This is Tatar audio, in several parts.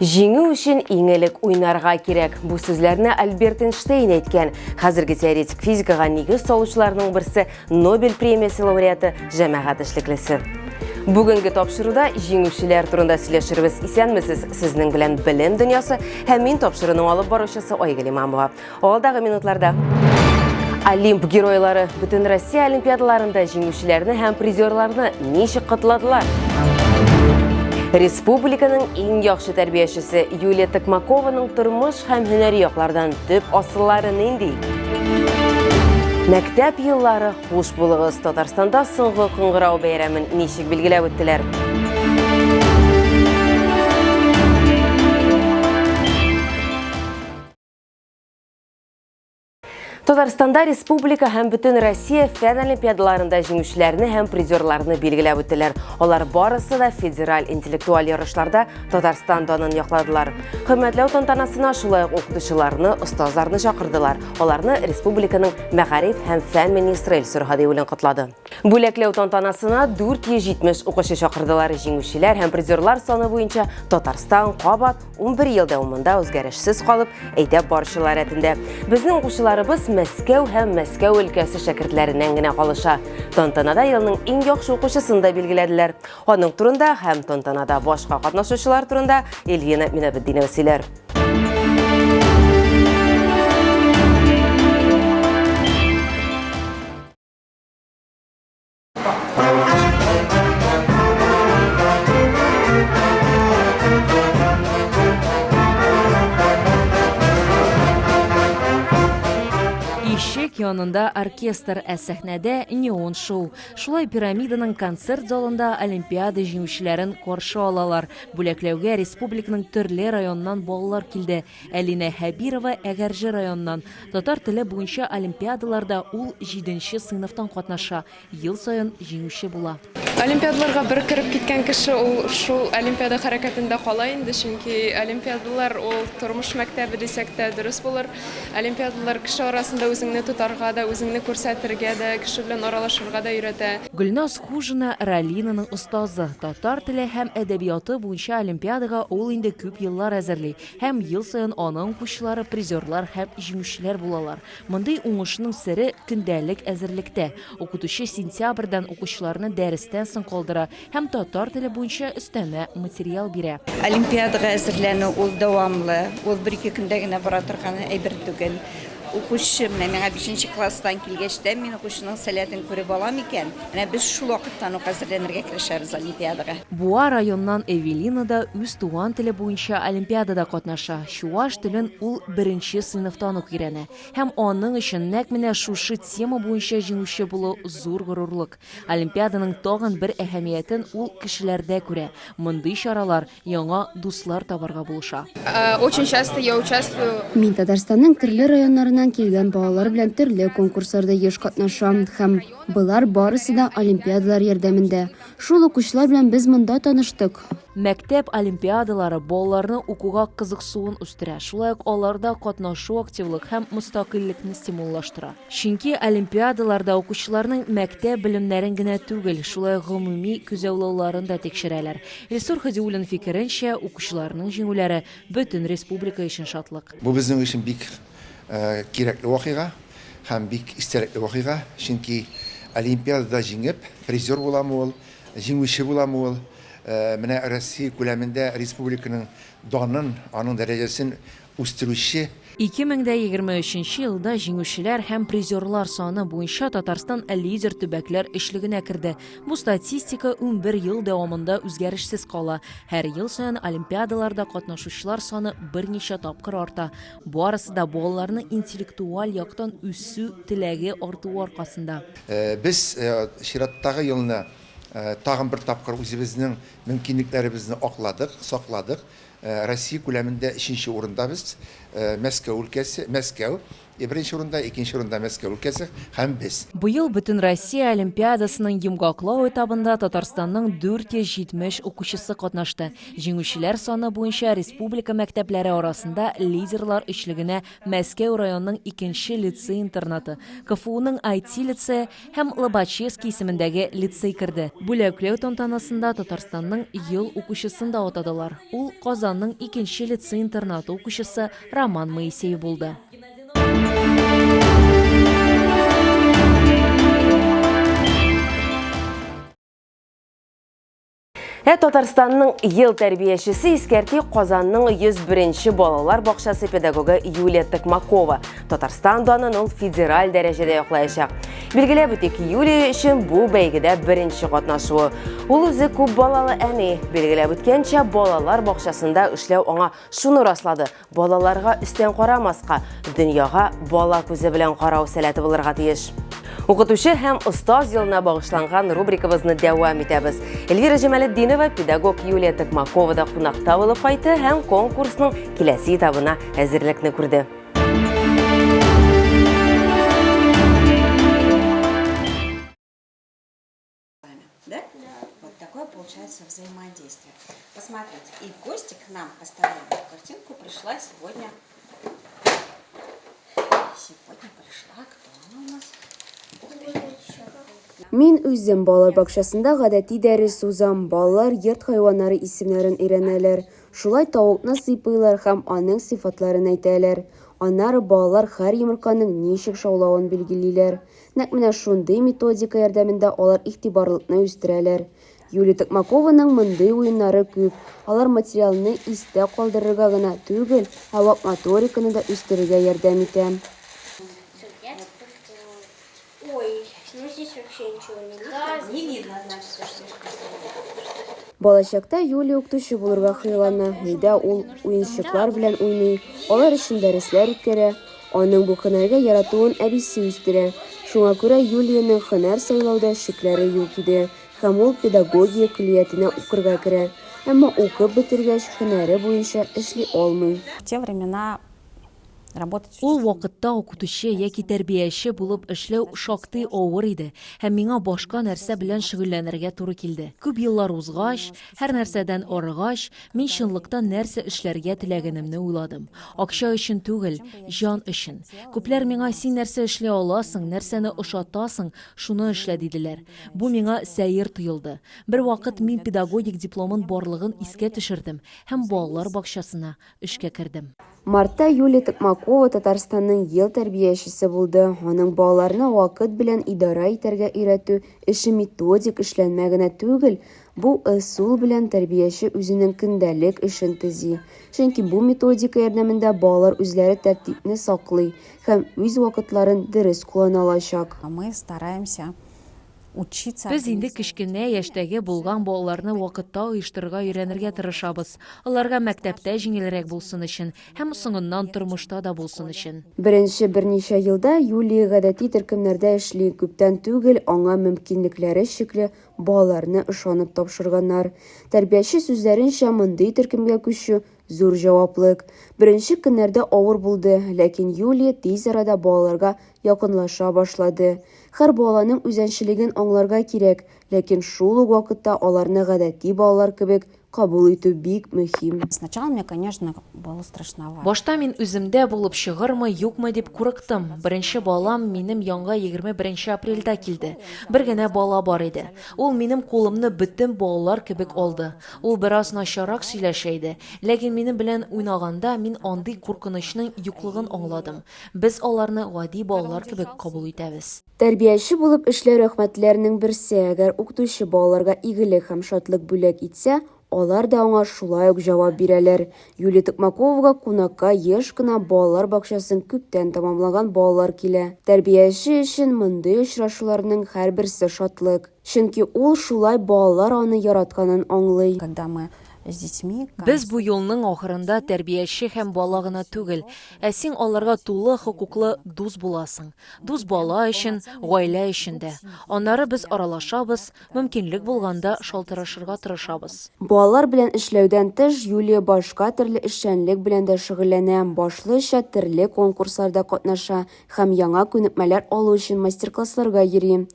Җиңү өчен иң элек уйнарга кирәк. Бу сүзләрне Альберт Эйнштейн әйткән. Хәзерге теоретик физикага нигез салучыларның берсе Нобель премиясе лауреаты, җәмәгать эшлеклесе. Бүгенге тапшыруда җиңүчеләр турында сөйләшербез. Исәнмесез, сезнең белән белем дөньясы һәм мин тапшыруның алып баручысы Айгөл Имамова. Алдагы минутларда Олимп геройлары бүтін Россия олимпиадаларында җиңүчеләрне һәм призерларны ничек котладылар? Республиканың иң яхшы тәрбиячесе Юлия Токмакованың тормыш һәм һөнәри яклардан төп асыллары нинди? Мәктәп еллары хуш булыгыз. Татарстанда соңгы кыңгырау бәйрәмен ничек билгеләп үттеләр? Татарстанда республика һәм бөтен Россия фән олимпиадаларында җиңүчеләрне һәм призерларны билгеләп үттеләр. Алар барысы да федераль интеллектуаль ярышларда Татарстан данын якладылар. Хөрмәтләү тантанасына шулай ук укытучыларны, остазларны чакырдылар. Аларны республиканың мәгариф һәм фән министры Илсур Һадиуллин котлады. Бүләкләү тантанасына 470 укучы чакырдылар. Җиңүчеләр һәм призерлар саны буенча Татарстан кабат 11 ел дәвамында үзгәрешсез калып, әйдәп баручылар рәтендә безнең укучыларыбыз Мәскәү һәм Мәскәү өлкәсе шәкертләреннән генә калыша. Тантанада елның иң яхшы укучысын да билгеләделәр. Аның турында һәм тантанада башка катнашучылар турында Ильина Минабетдинова сөйләр. Ишек янында оркестр, ә сәхнәдә неон шоу. Шулай пирамиданың концерт залында олимпиада җиңүчеләрен каршы алалар. Бүләкләүгә республиканың төрле районыннан балалар килде. Әлинә Хәбирова, Әгәрҗе районыннан. Татар теле буенча олимпиадаларда ул җиденче сыйныфтан катнаша, ел саен җиңүче була. Олимпиадаларга бер кереп киткән кеше ул шул олимпиада хәрәкәтендә кала инде, чөнки олимпиадалар ул тормыш мәктәбе дисәк тә дөрес булыр. Олимпиадалар кеше арасында үзеңне тотарга да, үзеңне күрсәтергә дә, кеше белән аралашырга да өйрәтә. Гөлназ Хужина, Ралинаның остазы. Татар теле һәм әдәбияты буенча олимпиадага ул инде күп еллар әзерли. Һәм ел саен аның укучылары призерлар һәм җиңүчеләр булалар. Мондый уңышның сере көндәлек әзерлектә. Укытучы сентябрьдән укучыларны дәрестән соң калдыра һәм татар теле буенча өстәмә материал бирә. Олимпиадага әзерләнү ул дәвамлы, ул бер-ике көндә генә бара торган әйбер түгел. Укучы, менә миңа бишенче класстан килгәч тә, мин укучының сәләтен күреп алам икән, менә без шул вакыттан ук әзерләнергә керешәбез олимпиадага. Буа районыннан Эвелина да үз туган теле буенча олимпиадада катнаша, чуваш телен ул беренче сыйныфтан ук өйрәнә. Һәм аның өчен нәкъ менә шушы тема буенча җиңүче булу зур горурлык. Олимпиаданың тагын бер әһәмиятен ул кешеләрдә күрә, мондый чаралар яңа дуслар табарга булыша. Очень часто я участвую. Мин Татарстанның төрле районнарыннан килгән балалар белән төрле конкурсларда еш катнашам һәм болар барысы да олимпиадалар ярдәмендә. Шул ук учлар белән без монда таныштык. Мәктәп олимпиадалары балаларны укуга кызыксуын үстерә, шулай ук аларда катнашу активлык һәм мөстәкыйльлекне стимуллаштыра. Чөнки олимпиадаларда укучыларның мәктәп белемнәрен генә түгел, шулай ук гомуми күзаллауларын да тикшерәләр. Илсур Һадиуллин фикеренчә, укучыларның җиңүләре, бөтен республика өчен шатлык. Бу безнең өчен бик кирәкле вакыйга һәм бик истәлекле вакыйга, чөнки олимпиадада җиңеп, призер буламы ул, җиңүче буламы ул, менә Россия күләмендә республиканың данын, аның дәрәҗәсен үстерүче. Ике мең дә егерме өченче елда җиңүчеләр һәм призерлар саны буенча Татарстан лидер төбәкләр өчлегенә керде. Бу статистика унбер ел дәвамында үзгәрешсез кала. Һәр ел саен олимпиадаларда катнашучылар саны берничә тапкыр арта. Барысы да балаларның интеллектуаль яктан үсү теләге артуы аркасында. Без чираттагы елны тагын бер тапкыр үзебезнең мөмкинлекләребезне акладык, сакладык. Россия күләмендә өченче урында без. Мәскәү өлкәсе, Мәскәү, беренче урында, икенче урында Мәскәү өлкәсе һәм без. Быел Бөтенроссия олимпиадасының йомгаклау этабында Татарстанның 470 укучысы катнашты. Җиңүчеләр саны буенча республика мәктәпләре арасында лидерлар өчлегенә Мәскәү районының икенче лицей-интернаты, КФУның IT-лицее, һәм Лобачевский исемендәге лицей керде. Бүләкләү тантанасында Татарстанның ел укучысын да атадылар. Ул Казанның икенче лицей-интернаты укучысы Роман Моисеев булды. Ә Татарстанның ел тәрбиячесе искәрти Казанның 101-нче балалар бакчасы педагогы Юлия Токмакова. Татарстан данын ул федераль дәрәҗәдә яклаячак. Билгеләп үтик, Юлия өчен бу бәйгедә беренче катнашуы. Ул үзе күп балалы әни. Билгеләп үткәнчә, балалар бакчасында эшләү аңа шуны раслады. Балаларга өстән карамаска, дөньяга бала күзе белән карау сәләте булырга тиеш. Укытучы һәм остаз елына багышланган рубрикабызны дәвам итәбез. Эльвира Җамалетдинова педагог Юлия Токмакова да кунакта булып кайтты һәм конкурсның киләсе этабына әзерлекне күрде. Да? Да. Вот такое получается взаимодействие. Посмотрите, и в гости к нам поставленную картинку пришла сегодня. Сегодня пришла, кто она у нас? Мин үзем балалар бакчасында гадәти дәрес узам. Балалар йорт хайваннары исемнәрен өйрәнәләр. Шулай тавыкны сыйпыйлар һәм аның сыйфатларын әйтәләр. Аннары балалар һәр йомырканың ничек шаулавын билгелиләр. Нәкъ менә шундый методика ярдәмендә алар игътибарлылыкны үстерәләр. Юлия Токмакованың мондый уеннары күп, алар материалны истә калдырырга гына түгел, ә вак моториканы да үстерергә ярдәм итә. Балачакта Юлия укытучы булырга хыяллана, өйдә ул уенчыклар белән уйный, алар өчен дәресләр үткәрә. Аның бу һөнәргә яратуын әбисе үстерә. Шуңа күрә Юлиянең һөнәр сайлауда шикләре юк иде һәм ул педагогия көллиятенә укырга керә. Әмма укып бетергәч, һөнәре буенча эшли алмый. Ул вакытта укытучы яки тәрбияче булып эшләү шактый авыр иде һәм миңа башка нәрсә белән шөгыльләнергә туры килде. Күп еллар узгач, һәрнәрсәдән арыгач, Мин чынлыкта нәрсә эшләргә теләгәнемне уйладым. Акча өчен түгел, җан өчен. Күпләр миңа, син нәрсә эшли аласың, нәрсәне ошатасың, шуны эшлә, диделәр. Бу миңа сәер тоелды. Бервакыт мин педагогик дипломын барлыгын искә төшердем һәм балалар бакчасына эшкә кердем. Мартта Юлия Токмакова Татарстанның ел тәрбиячесе булды. Аның балаларны вакыт белән идарә итәргә өйрәтү эше методик эшләнмә генә түгел, Бу ысул белән тәрбияче үзенең көндәлек эшен төзи, чөнки бу методика ярдәмендә балалар үзләре тәртипне саклый һәм үз вакытларын дөрес куллана алачак. Без инде кечкенә яшьтәге булган балаларны вакытта оештырырга өйрәнергә тырышабыз, аларга мәктәптә җиңелрәк булсын өчен һәм соңыннан тормышта да булсын өчен. Беренче берничә елда Юлия гадәти төркемнәрдә эшли, күптән түгел аңа мөмкинлекләре чикле Балаларны ышанып тапшырганнар. Тәрбияче сүзләренчә, мондый төркемгә күчү, зур җаваплык. Беренче көннәрдә авыр булды, ләкин Юлия тиз арада балаларга якынлаша башлады. Хәр баланың үзәнчелеген аңларга кирәк, ләкин шул ук вакытта аларны гадәти балалар кебек Кабул итү бик мөһим. Сначала мне, конечно, было страшновато. Башта мин үземдә булып чыгырмы, юкмы дип курыктым. Беренче балам минем янга егерме беренче апрельдә килде. Бер генә бала бар иде. Ул минем кулымны бөтен балалар кебек алды. Ул бераз начаррак сөйләшә иде. Ләкин минем белән уйнаганда мин андый куркынычның юклыгын аңладым. Без аларны гади балалар кебек кабул итәбез. Тәрбияче булып эшләү рәхмәтләрнең берсе, әгәр укытучы балаларга игелек һәм шатлык бүләк итсә, алар да аңа шулай ук җавап бирәләр. Юлия Токмаковага кунакка еш кына балалар бакчасын күптән тәмамлаган балалар килә. Тәрбияче өчен мондый очрашуларның һәрберсе шатлык. Чөнки ул шулай балалар аны яратканын аңлый. Без бу юлның ахырында тәрбияче һәм бала гына түгел, ә син аларга тулы хокуклы дус буласың. Дус бала өчен, гаилә өчен дә. Аннары без аралашабыз, мөмкинлек булганда шалтырашырга тырышабыз. Балалар белән эшләүдән тыш Юлия башка төрле эшчәнлек белән дә шөгыльләнә, башлыча терле конкурсларда катнаша һәм яңа күнекмәләр алу өчен мастер-классларга йөри.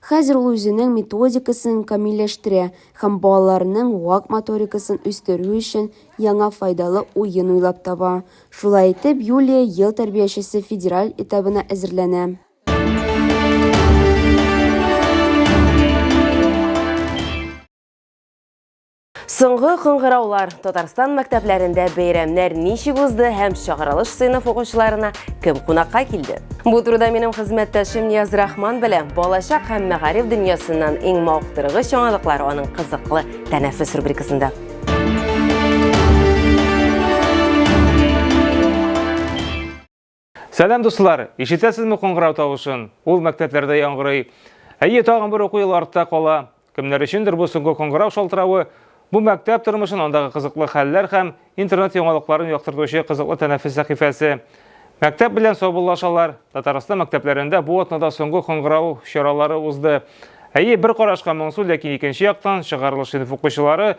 Хәзер ул үзенең методикасын камилләштерә һәм балаларның вак моторикасын үстерү өчен яңа файдалы уен уйлап таба. Шулай итеп, Юлия ел тәрбиячесе федераль этабына әзерләнә. Соңгы кыңгыраулар Татарстан мәктәпләрендә бәйрәмнәр ничек узды һәм чыгарылыш сыйныф укучыларына кем кунакка килде? Бу турыда минем хезмәттәшем Нияз Рахман белә. Балачак һәм мәгариф дөньясыннан иң мавыктыргыч яңалыклар аның кызыклы тәнәфес рубрикасында. Сәлам дуслар! Ишетәсезме коңгырау тавышын? Ул мәктәпләрдә яңгырый. Әйе, тагын бер уку елы артта кала. Кемнәр өчендер бу соңгы коңгырау шалтыравы, бу мәктәп тормышын, андагы кызыклы хәлләр һәм интернет яңалыкларын яктыртучы кызыклы тәнәфес сәхифәсе. Мәктәп белән саубуллашалар. Татарстан мәктәпләрендә бу атнада соңгы коңгырау чаралары узды. Әйе, бер карашка моңсу, ләкин икенче яктан чыгарылыш сыйныф укучылары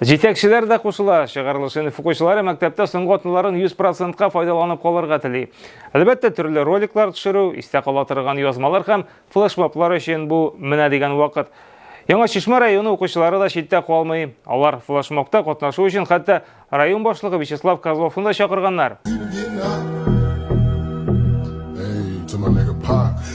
Җитәкчеләр дә кушыла. Чыгарылыш сыйныф укучылары мәктәптә соңгы атналарын 100 процентка файдаланып калырга тели. Әлбәттә, төрле роликлар төшерү, истә кала торган язмалар һәм флешмоблар өчен бу менә дигән вакыт. Яңа Чишмә районы укучылары да читтә калмый. Алар флешмобта катнашу өчен хәтта район башлыгы Вячеслав Козловны да чакырганнар.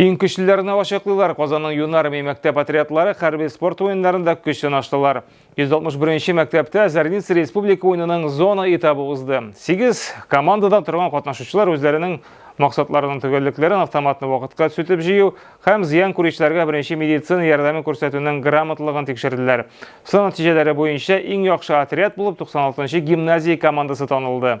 Иң көчлеләрне ачыклыйлар. Казанның Юнармия мәктәп отрядлары хәрби спорт уеннарында көч сынаштылар. 161 мәктәптә Зарница республика уенының зона этабы узды. 8 командадан торган катнашучылар үзләренең максатларының төгәллекләрен автоматны вакытка төзетеп җыю һәм зыян күрүчеләргә беренче медицина ярдәме күрсәтүнең грамотлыгын тикшерделәр. Сынау нәтиҗәләре буенча иң яхшы отряд булып 96 нчы гимназия командасы танылды.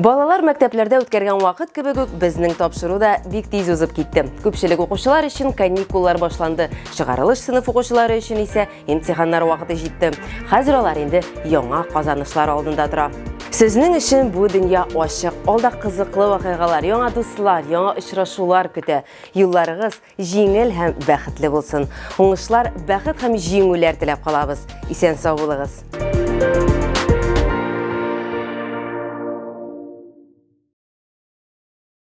Балалар мәктәпләрдә үткәргән вакыт кебек үк безнең тапшыру да бик тиз узып китте. Күпчелек укучылар өчен каникуллар башланды, чыгарылыш сыйныф укучылары өчен исә имтиханнар вакыты җитте. Хәзер алар инде яңа казанышлар алдында тора. Сезнең өчен бу дөнья ачык. Алда кызыклы вакыйгалар, яңа дуслар, яңа очрашулар көтә. Юлларыгыз Җиңел һәм бәхетле булсын. Уңышлар, бәхет һәм җиңүләр теләп калабыз. Исән сау булыгыз.